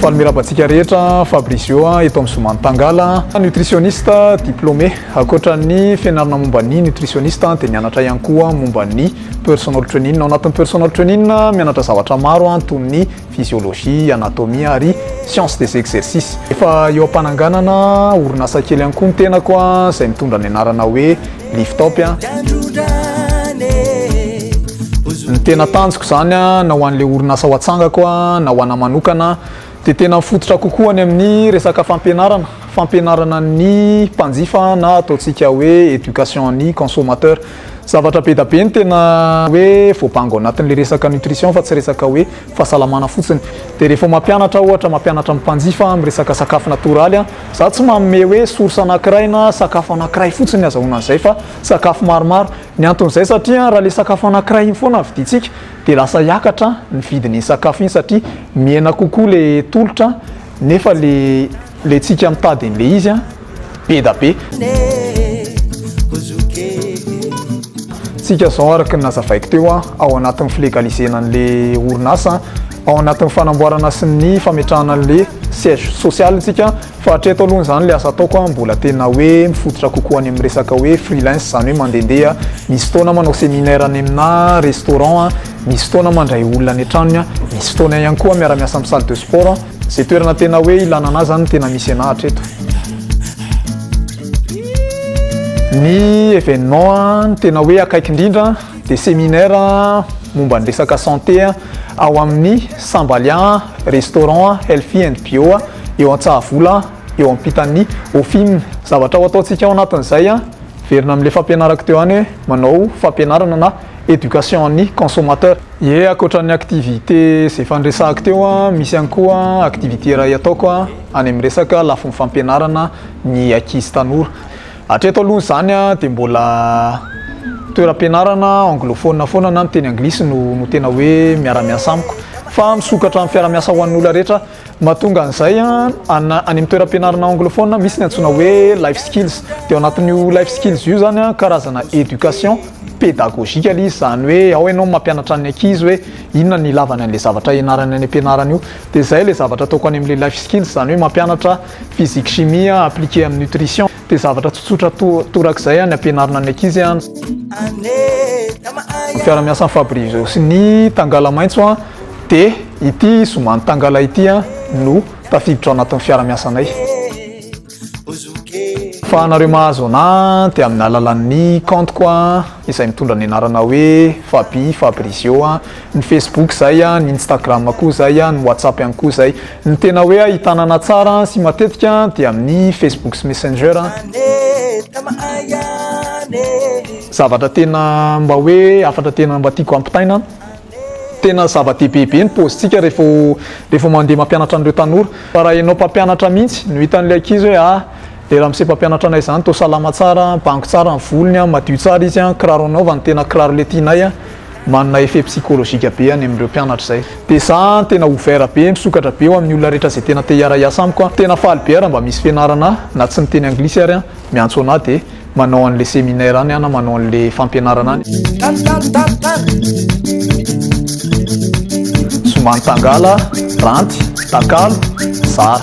Faly miraba antsika rehetra Fabrizio eto amin'ny Zoma Mitangala. Nutritionniste diplômé. Ankoatra ny fianarana momba ny nutritionniste dia nianatra ihany koa momba ny personal training. Ao anatin'ny personal training mianatra zavatra maro toy ny physiologie, anatomie ary science des exercices. Efa eo am-pananganana orinasa kely ihany koa ny tenako izay mitondra ny anarana hoe Lift top a. Ny tena tanjoko izany a, na ho an'ilay orinasa ho atsangako a, na ho anà manokana, dia tena mifototra kokoa any amin'ny resaka fampianarana, fampianarana ny mpanjifa na ataontsika hoe éducation ny consommateur. Zavatra be da be ny tena hoe voabango ao anatin'ilay resaka nutrition fa tsy resaka hoe fahasalamana fotsiny dia rehefa mampianatra aho ohatra mampianatra ny mpanjifa amin'ny resaka sakafo natoraly an, za tsy manome hoe source anakiray na sakafo anakiray fotsiny ny azahoana an'izay fa sakafo maromaro, ny anton'izay satria raha ilay sakafo anakiray iny foana no vidintsika dia lasa hiakatra ny vidin'iny sakafo iny satria mihena kokoa ilay tolotra nefa ilay ilay tsika mitady an'ilay izy an. be da be. Tsika zao araka ny nazavaiko teo an, ao anatin'ny filegalisena an'le orinasa ao anatin'ny fanamboarana sy ny fametrahana an'le siège social tsika fa hatreto aloha zany le asa ataoko an mbola tena hoe mifototra kokoa any amin'ny resaka hoe freelance zany hoe mandendeha misy fotoana manao séminaire any aminà restaurant an, misy fotoana mandray olona any an-tranony an, misy fotoana ihany koa miara-miasa amin'ny salle de sport an. Ze toerana tena hoe ilana anah zany tena misy anah hatreto. Ny événement tena hoe akaiky indrindra dia séminaire momba ny resaka santé ao amin'ny Sambalia restaurant healthy and bio eo Antsahavola eo ampitan'ny Ofim. Zavatra ho ataontsika ao anatin'izay an, miverina amin'ilay fampianarako teo ihany hoe manao fampianarana na éducation an'ny consommateur. Ie akoatra ny activité zay efa niresahako teo misy ihany koa activité iray ataoko any amin'ny resaka lafiny fampianarana ny ankizy tanora. Hatreto aloha izany dia mbola toeram-pianarana anglophone foana na miteny anglisy no no tena hoe miara-miasa amiko fa misokatra amin'ny fiara-miasa ho an'ny olona rehetra. Mahatonga an'izay, any amin'ny toeram-pianarana anglophone misy ny antsoina hoe life skills. Dia ao anatin'io life skills io izany, karazana éducation pédagogique izy, izany hoe ao ianao mampianatra ny ankizy hoe inona ny ilavany an'ilay zavatra hianarany any am-pianarana io. Dia izay ilay zavatra ataoko any amin'ilay life skills, izany hoe mampianatra physique chimie appliqué amin'ny nutrition. Dia zavatra tsotsotra torak'izay ny ampianarina ny ankizy an. Ny fiara-miasan'i Fabrizio sy ny tangala maitso an, dia ity zomany tangala ity an no tafiditra ao anatin'ny fiara-miasanay. Fa anareo mahazo anah an dia amin'ny alalan'ny compte-ko an, izay mitondra ny anarana hoe Faby Fabrizio an. ny Facebook zay a, ny Instagram koa zay a, ny WhatsApp ihany koa zay. Ny tena hoe ahitanana tsara sy matetika dia amin'ny Facebook sy Messenger a. Zavatra tena mba hoe hafatra tena mba tiako hampitaina a, tena zava-dehibe be ny paozintsika rehefa rehefa mandeha mampianatra an'ireo tanora fa raha ianao mpampianatra mihitsy no hitan'ilay ankizy hoe ah, le ramose mpampianatra anay zany toa salama tsara, bango tsara ny volony a, madio tsara izy a, kiraro anaovany tena kiraro le tianay a. Manana effet psychologique be any amin'ireo mpianatra izay. Dia za an tena ouvert be, misokatra be ho amin'ny olona rehetra izay tena te hiara hiasa amiko an. Tena faly be ara mba misy fianarana na tsy miteny anglisy ary an, miantso anah dia manao an'le seminaire any an na manao an'le fampianarana any. Tany tany tany tany. Zoma nitangala, ranty, takalo, zara.